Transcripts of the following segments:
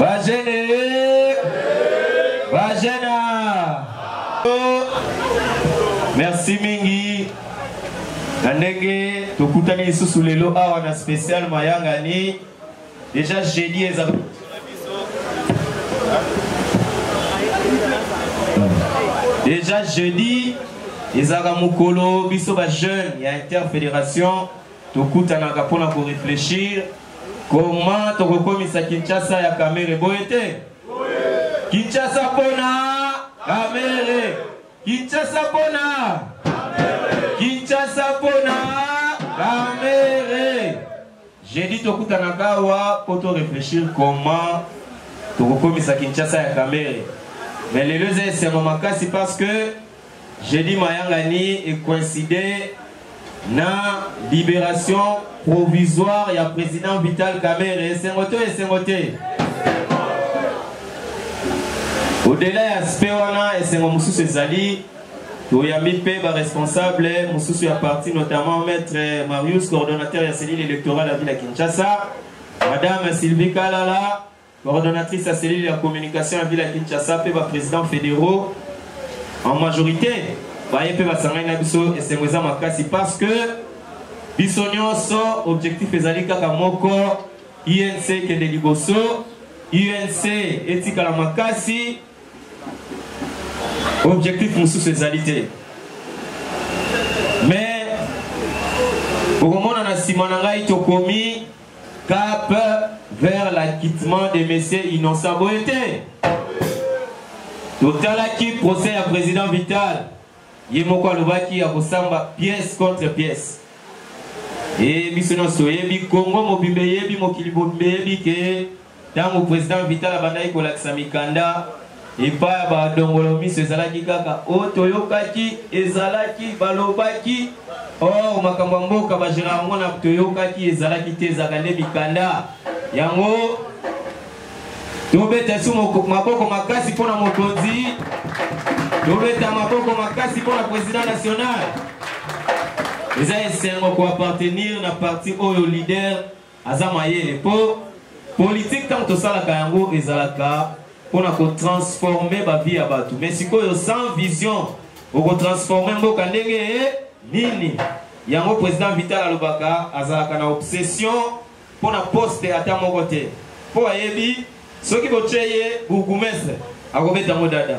Bajene Bajena Merci mingi na ndenge tokutani lisusu lelo awa na spécial mayangani déjà jeudi eza déjà jeudi ezalaka mokolo biso ba jeune ya interfédération Tokutanaka mpo na ko reflechir comment tokokomisa Kinshasa ya Kamere, boye te? Kinshasa mpo na Kamere, Kinshasa mpo na Kinshasa mpo na Kamere. J'ai dit tokutanaka awa mpo to reflechir comment tokokomisa Kinshasa ya Kamere, mais lelo eza esengo makasi parce que Jeudi mayangani e coïncide na liberation provisoire ya president Vital Kamerhe esengo to esengo te. Au-delà ya aspect wana esengo mosusu ezali toyambi mpe baresponsable mosusu ya parti notamment maître marius coordonnateur ya cellule électorale ya ville ya kinshasa madame sylvie kalala Coordonnatrice ya cellule ya communication ya ville ya Kinshasa mpe ba presidents federaux en majorité baye mpe basangani na biso esengo eza makasi parce que biso nyonso objectif ezali kaka moko unc ekende liboso unc etikala makasi objectif mosusu ezali te mais okomona na nsima na ngai tokomi Cap vers l'acquittement de Monsieur Innocent Boyete. totalaki procès ya président vital ye moko alobaki ya kosamba pièce contre pièce e biso nyonso oyebi congo mobimba eyebi mokili mobimba eyebi ke Ntango President Vital abandaki kolakisa mikanda epai ya ba dongolo miso ezalaki kaka oh toyokaki, ezalaki, balobaki, or makambo ya mboka ba geraka yango na toyokaki, ezalaki te, ezalaka nde mikanda. Yango tobeta su maboko makasi mpo na mokonzi, tobeta maboko makasi mpo na president national. eza esengo koappartenir na parti oyo leader Aza mayele po politique tango tosalaka yango ezalaka pona ko transformer ba vie ya batu mais sikoyo sans vision oko transformer mboka ndenge nini yango président Vital alobaka azalaka na obsession pona poste ata moko te po ayebi soki botye ye bourgoumestre akobeta ngo dada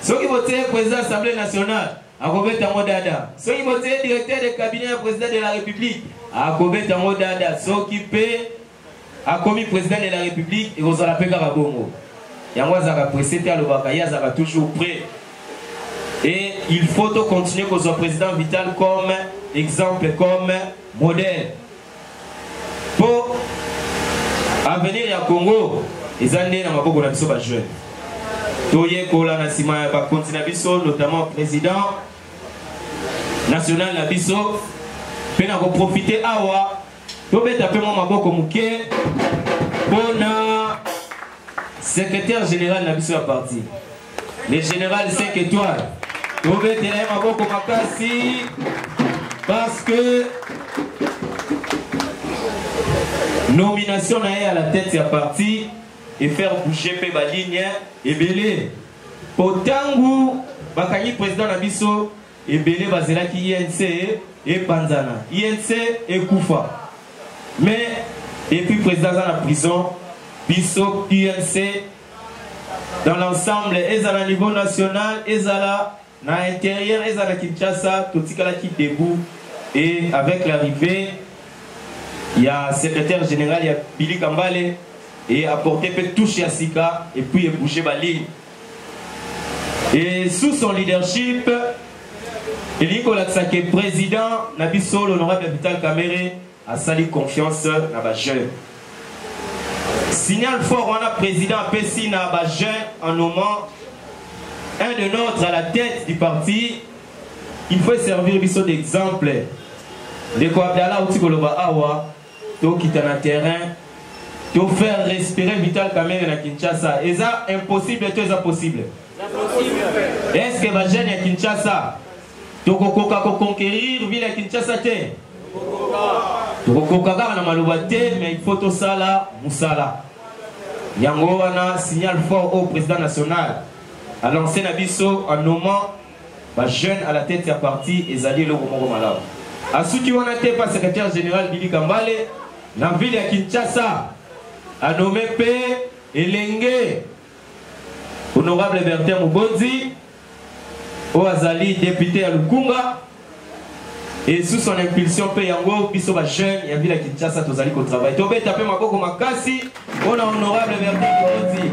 soki botye ye président assemblée nationale Akobeta yango dada soki botie directeur de cabinet ya president de la republique. Akobeta yango dada soki mpe akomi president de la republique ekozala mpe kaka bongo. Yango azalaka presse te alobaka ye azalaka toujours prêt. Et il faut to continuer kozwa president Vital comme exemple comme modèle. po avenir ya congo eza nde na maboko na biso bajeune toyekola na nsima ya bakonzi na biso notamment président national na biso mpe na koprofite awa tobeta mpe mwa maboko moke mpo na Secrétaire général na biso ya parti, le général 5 étoiles, tobetela ye maboko makasi parce que nomination na ye à la tête ya parti et faire bouger mpe baligne ebele mpo ntango bakangi président na biso Ebele bazelaki INC epanzana, INC ekufa. Mais depuis président aza na prison, biso UNC dans l'ensemble ezala niveau national ezala na intérieur ezala Kinshasa totikalaki debout et avec l'arrivée il y a secrétaire général il y a Billy Kambale et apporter peu touche ya sika et puis bouger ba ligne Et sous son leadership, elingi kolakisa ke président na biso l'honorable vital kamere asali confiance na bajeune signal fort wana président apesi na bajeune en nommant un de notre à la tête du parti il faut servir biso d'exemple ndeko abdala auti koloba awa tokita na terrain to faire respirer vital kamere na kinshasa eza impossible to eza possible est ce que bajeune ya kinshasa tokokoka koconquerir ville ya kinshasa te tokokoka kaka na maloba te mais il faut tosala mosala yango wana signal fort au président national alance na biso en nommant Ba jeunes à la tete ya parti ezali eloko moko malamu. Asuki wana te mpe secretaire general Billy Kambale na ville ya Kinshasa a nomme mpe elenge honorable Bertin Mubonzi oyo azali depute ya Lukunga Et sous son impulsion mpe yango biso ba jeunes ya ville ya Kinshasa tozali ko travailler. Tobeta mpe maboko makasi mpo na honorable Bertin Koti.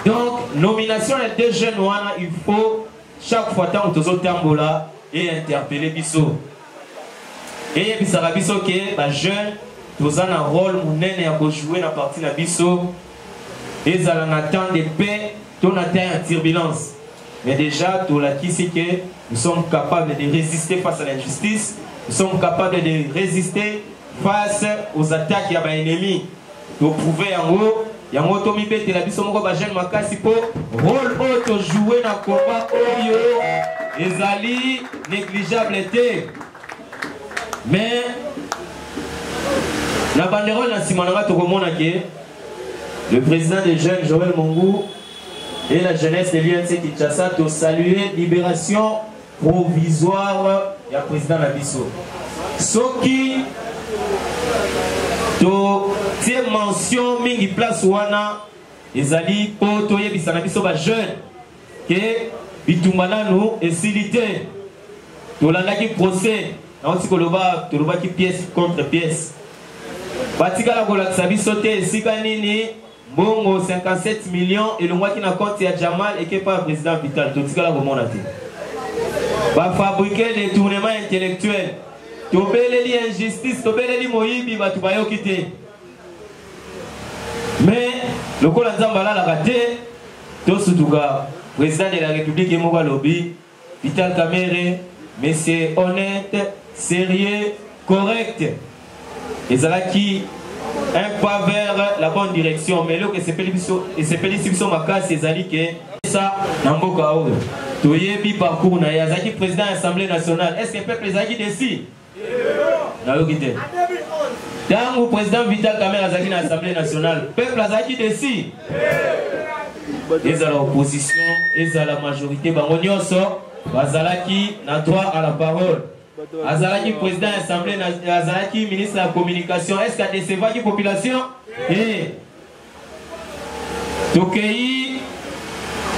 Donc nomination ya deux jeunes wana il faut chaque fois ntango tozotambola et interpeller biso eyebisaka biso ke bajeune toza na role monene ya kojoue na parti na biso ezala na temps de paix to na temps ya turbulence mais déjà tolakisi ke nous sommes capables de résister face à l'injustice nous sommes capables de résister face aux attaques ya ba ennemis to prouver yango yango tomibetela biso moko ba jeune makasi mpo role oyo tojoue na combat oyo ezali négligeable te mais na banderole na nsima na ngai tokomona ke le président des jeunes joel mongu et la jeunesse de l'UNC Kinshasa to saluer libération provisoire ya president na biso soki totie mention mingi place wana ezali mpo toyebisa na biso bajeune ke bitumba nanu esili te tolandaki procès nauti koloba tolobaki pièce contre pièce batikala kolakisa biso te esika nini Mbongo 57 millions elongwaki na compte ya Jamal eke epai ya President Vital, totikala komona te. Ba fabriquer detournement intellectuel. Tobeleli injustice, tobeleli moyibi, bato bayoki te. Mais lokola Nzambe alalaka te, tosutuka. President de la Republique ye moko alobi. Vital Kamerhe, monsieur honnete, serieux, correct. Ezalaki un pas vers la bonne direction, mais eloko esepeli biso, esepelisi biso makasi ezali ke sa na mboka oyo. Toyebi parcours na ye, azalaki président ya Assemblée nationale. Est-ce que peuple ezalaki desi? nayoki te ntango président vital kamere azalaki na assemblée nationale peuple azalaki desi ezala opposition ezala majorité bango nyonso bazalaki na droit à la parole azalaki président ya assemblée azalaki ministre ya communication est ce que adecevaki population e tokei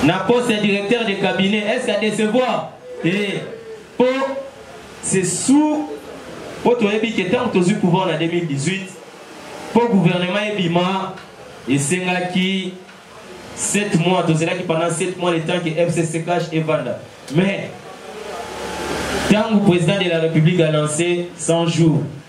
na poste ya directeur de cabinet est ce adecevoir e eh, po c'est sous po toyebi ke ntango tozwi pouvoir na 2018 po gouvernement ebima esengaki 7 mois tozelaki pendant 7 mois le temps que fcc cash evanda mais ntango président de la république a lancé 100 jours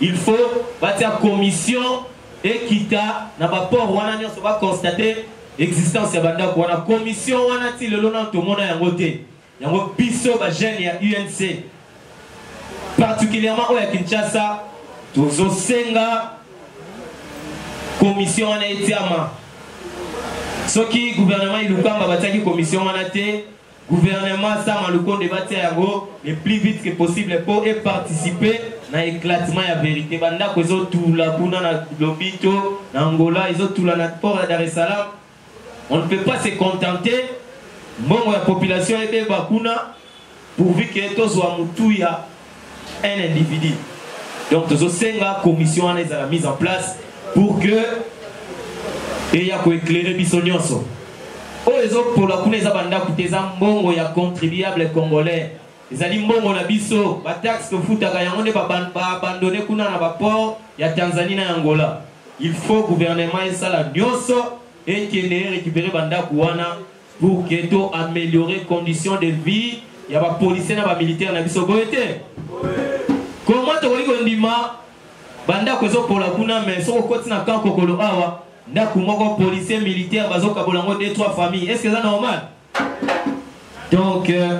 Il faut batia commission ekita na ba port wana nionso ba constate existence ya ba ndaku wana commission wana ti lelo nanu tomona yango te yango biso ba jeune ya UNC particulièrement oyo ya Kinshasa tozo senga commission wana etiama soki gouvernement ilukamba batiaki commission wana te Gouvernement Sama Lukonde batia yango le plus vite que possible po e participer na eclatement ya verite. Ba ndako ezo tula kuna na Lobito, na Angola, ezo tula na port ya Dar es Salaam. On ne peut pas se contenter mbongo ya population ebeba kuna pourvu que tozwa mutuya un individu donc tozosenga commission wana ezala mise en place pour que eya koeclaire biso nyonso oyo ezopola kuna eza bandako te eza mbongo ya contribuable congolais ezali mbongo na biso bataxe tofutaka yango nde baabandone ba kuna na baport ya tanzanie na angola il faut gouvernement esala nyonso ekende erekipere bandako wana pour que to améliorer condition de vie ya ba policiers na ba militaires na biso boye te comment tokoki kondima bandako ezopola kuna mais soki okoti na camp kokolo awa ndako moko policier militaire bazokabola yango 2 3 famille est ce que eza normal donc euh,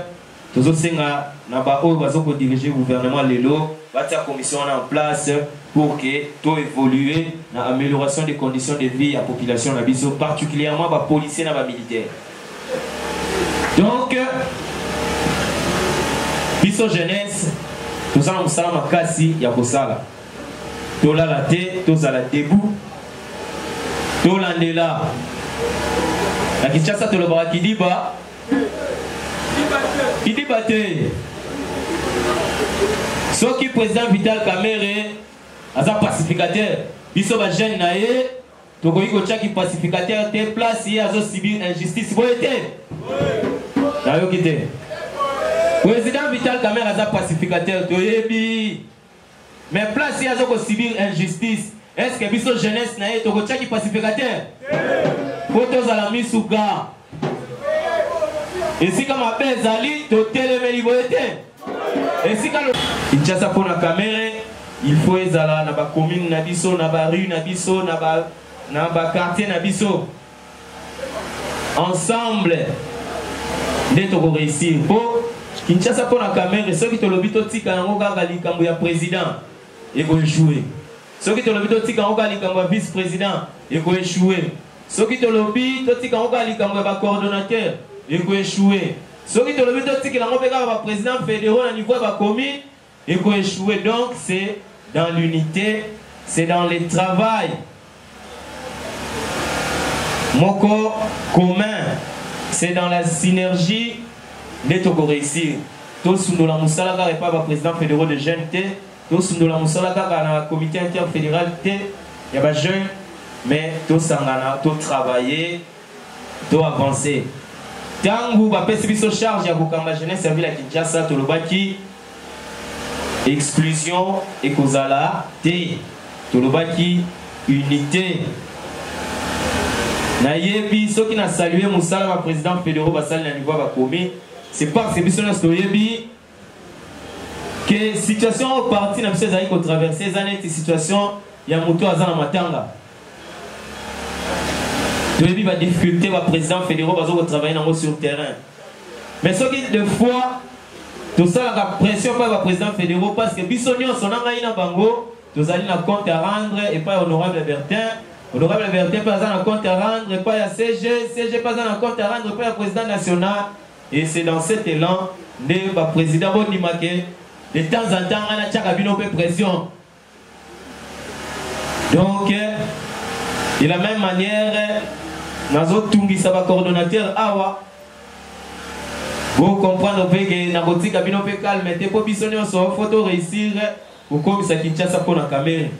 Tozosenga na ba oyo bazo ko diriger gouvernement lelo batia commission wana en place pour que to evoluer na amelioration des conditions de vie ya population na biso particulièrement ba policiers na ba militaires. Donc biso jeunesse toza na mosala makasi ya kosala tolala te tozala debout tolandela na kinshasa tolobaka kidiba Kidiba te. Soki président Vital Kamerhe aza pacificateur, biso ba jeune na ye tokoki kotya ki pacificateur te place ye azo subir injustice boye te. Nayoki te. Président Vital Kamerhe aza pacificateur toyebi. Mais place ye azo ko subir injustice, est ce que biso jeunesse na ye toko tia ki pacificateur? Po tozala misu ga. Esika mabe ezali totelemeli boye te. Esika lo Kinshasa pona Kamere il faut ezala na ba commune na biso na ba rue na biso na ba na ba quartier na biso ensemble nde toko réussir mpo kinshasa mpo na kamere soki tolobi totika yango kaka likambo ya président ekoechoue soki tolobi totika yango kaka likambo ya vice président ekoechoue soki tolobi totika yango kaka likambo ya bacoordonnateur ekoechoue soki tolobi totikela yango mpe kaka baprésident fédéraux na niveau ya bacommune Eko echoue donc c'est dans l'unite c'est dans le travail moko commun c'est dans la synergie nde toko reussir tosundola musala kaka epa ba president federaux de jeune te tosundola musala kaka na comite interfederal te ya ba jeune mais tosangana to travailler To avancer. Tangu bapesi biso charge ya kokamba jeunesse ya ville ya Kinshasa tolobaki exclusion ekozala te. Tolobaki unite. Nayebi soki na saluer musala ba presidents federaux basali na niveau ya ba communes c'est parce que biso nionso toyebi ke situation oyo parti na biso ezali kotraverse eza neti situation ya moto aza na matanga toyebi badifficulté baprésident fédéraux baza kotravaille nango sur terrain mais soki de fois tosalaka pression epai baprésident fédéraux parce que biso nyonso na ngai na bango tozali na compte à rendre epai honorable bertin honorable bertin mpe aza na compte à rendre epai ya cg cg mpe aza na compte à rendre epai ya président national Et c'est dans cet elan nde ba president bo ndima ke de temps en temps nga natiaka bino pe pression donc de la même manière nazotungisa ba coordonnateur awa bocomprendre mpe ke nakotika bino mpe calme te mpo biso nyonso fo to réussir Kokomisa Kinshasa mpo na Kamerhe.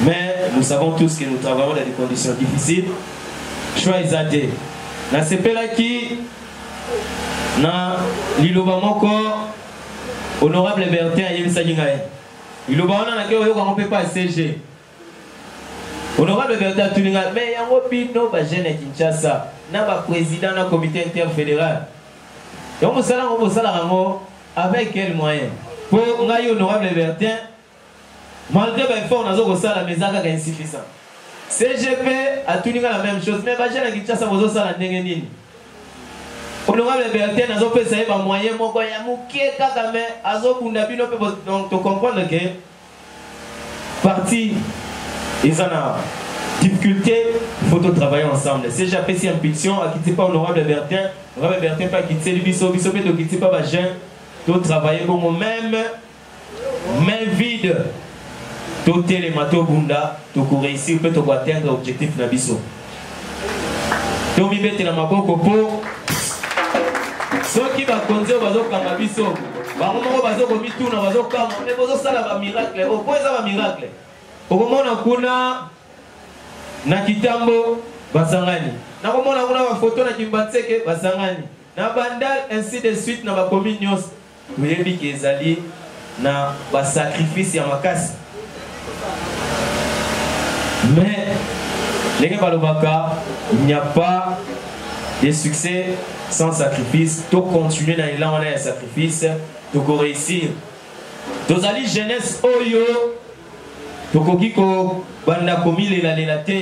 Mais nous savons tous que nous travaillons dans des conditions difficiles. Choix eza te. Nasepelaki na liloba moko honorable Bertin ayebisaki ngai. Liloba wana nake oyoka yango mpe pa CG. Honorable Bertin atuni ngai, mais yango bino ba jeunes ya Kinshasa na ba presidents na comite interfederal, yango mosala yango bosalaka yango avec quel moyen? Mpo ngai honorable Bertin, malgré ba efforts nazo kosala mais eza kaka insuffisant. CGP atuni ngai la même chose, mais ba jeunes ya Kinshasa bozosala ndenge nini? Honorable Bertin nazopesa ye ba moyens moko ya moke kaka mais azobunda bino mpe donc to comprendre que parti eza na difficulté il faut travailler ensemble cg apesi impulsion akiti mpa honorable bertin honorable bertin mpe akitiseli biso biso mpe tokiti mpa bajeune totravaille bongo meme main vide totelema tobunda tokoreusir mpe tokoatteindre objectif na biso tomibetela maboko mpo soki bakonzi oyo bazokanga biso bango moko bazokomituna bazokanga nde bozosala bamiracle oyo oh, mpo eza bamiracle okomona kuna na kitambo basangani nakomona kuna bafoto na kimbanseke basangani na bandal ainsi de suite na bakomi nyonso Toyebi que ezali na ba sacrifices ya makasi mais ndenge balobaka il n'y a pas de succès sans sacrifice. To continuer na elan wana ya sacrifice toko réussir. Tozali jeunesse oyo tokoki kobanda komilela lela te.